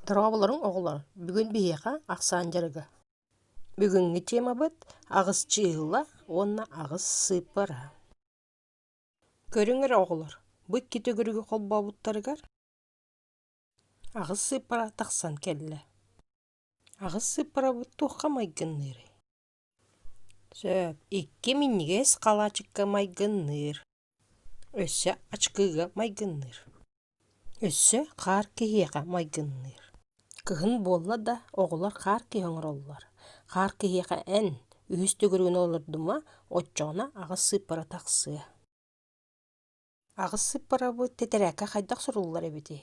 Дорооболоруҥ, оҕолор! Бүгүн биһиэхэ ахсаан дьарыга. Бүгүҥҥү темабыт аҕыс чыыһыла уонна аҕыс сыыппара. Көрүҥэр оҕолор, бу икки төгүрүгү холбообуттарыгар аҕыс сыыппара тахсан кэллэ. Аҕыс сыыппарабыт туохха майгынныырый? Сөп, икки минньигэс халаачыкка майгынныыр. Өссө ачкыыга майгынныыр. Өссө хаар киһиэхэ майгынныыр. Кыһын буолла да, оҕолор хаар киһи оҥороллор. Хаар киһиэхэ эн, үһүс төгүрүгүн олордума, оччоҕуна аҕыс сыыппара тахсыа. Аҕыс сыыппарабыт тэтэрээккэ хайдах суруллар эбитий?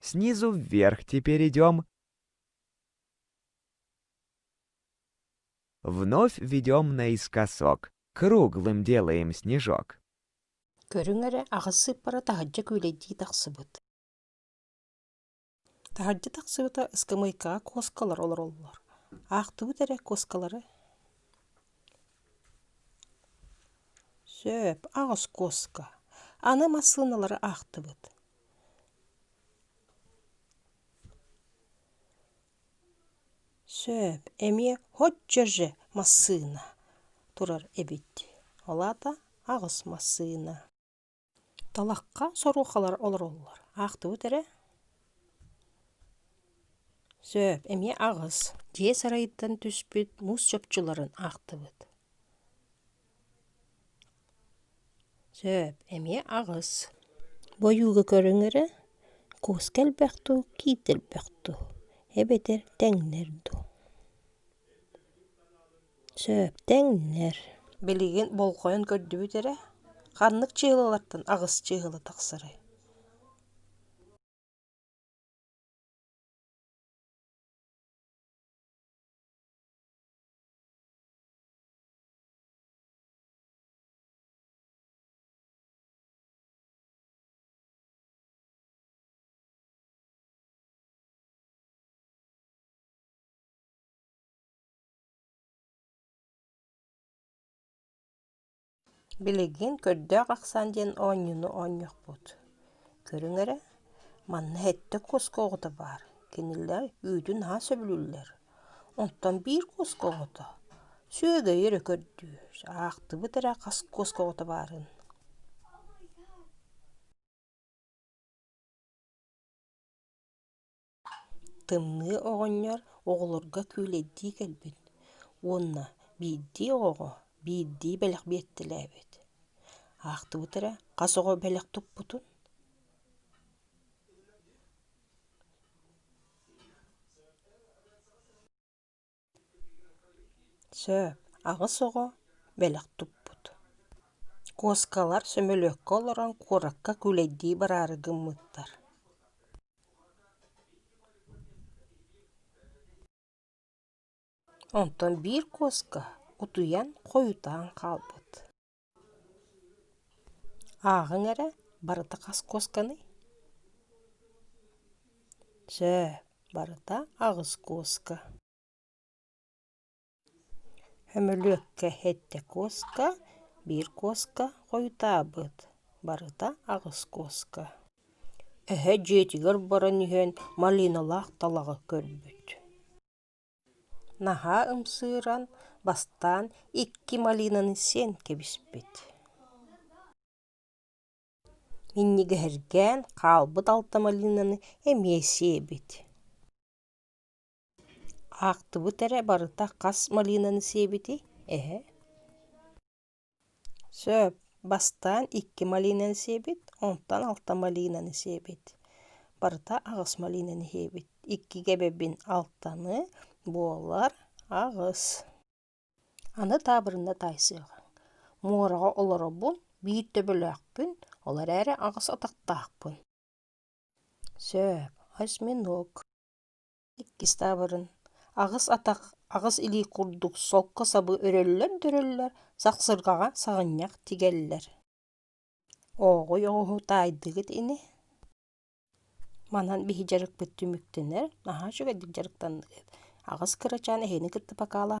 Снизу вверх теперь идем. Вновь ведем наискосок. Круглым делаем снежок. Көрүҥ эрэ, аҕыс сыыппара таһырдьа күүлэйдии тахсыбыт. Таһырдьа тахсыбыта ыскамыайкаҕа куоскалар олороллор. Аахтыбыт эрэ куоскалары. Сөп, аҕыс куоска. Аны массыыналары аахтыбыт. Сөп, эмиэ «Һоччо же массыына» турар эбит, ол аата аҕыс массыына. Талахха соруохалар олороллор, аахтыбыт эрэ? Сөп, эмиэ аҕыс. Дьиэ сарайыттан түспүт муус чопчуларын аахтыбыт. Сөп, эмиэ аҕыс. Бу ойууга көрүҥ эрэ, куоска элбэх дуу, киитэ элбэх дуу, эбэтэр тэҥнэр дуу? Сөп, тэҥнэр. Билигин болҕойон көрдүбүт эрэ, ханнык чыһылалартан аҕыс чыһыла тахсарый? Билигин көрдөөх ахсаан диэн оонньууну оонньохпут. Көрүҥ эрэ, манна сэттэ куоскаҕыта баар, кинилэр үүтүн аһа сөбүлүүллэр Оттон биир куоска оҕото сүөгэй эрэ көрдүүр, аахтыбыт эрэ хас куоска оҕото баарын Тымныы оҕонньор оҕолорго күүлэйдии кэлбит уонна биирдии оҕоҕо биирдии бэлэх биэртэлээбит. Аахтыбыт эрэ хас оҕо бэлэх туппутун Сөп, аҕыс оҕо бэлэх туппут. Куоскалар сөмөлүөккэ олорон куоракка күүлэйдии бараары гыммыттар Онтон биир куоска утуйан, хойутаан хаалбыт ааҕыҥ эрэ барыта хас куосканый чээ барыта аҕыс куоска хөмөлүөккэ сэттэ куоска биир куоска хойутаабыт барыта аҕыс куоска эһэ дьиэтигэр баран иһэн малиналаах талаҕы көрбүт Наһаа ымсыыран, бастаан икки малинаны сиэн кэбиспит Минньигэһиргээн хаалбыт алта малинаны эмиэ сиэбит Аахтыбыт эрэ барыта хас малинаны сиэбитий, эһэ Сөп, бастаан икки малинаны сиэбит, онтон алта малинаны сиэбит. Барыта аҕыс малинаны иһиэбит. Иккигэ эбэбин алтаны буолар аҕыс. Аны таабырына таайсыаҕыҥ. Муораҕа олоробун, биир төбөлөөхпүн, ол эрээри аҕыс атахтаахпын. Сөп, осьминог. иккис таабырын аҕыс атах аҕыс илии курдук солко сабы өрөллөр-дөрөллөр сахсырҕаҕа саҕынньах тигэллэр оҕуй оҕуһу таайдыгыт ини манан биһи дьарыкпыт түмүктэнэр наһаа үчүгэйдик дьарыктанныгыт аҕыс кырачаан эһэни кытта покалаһа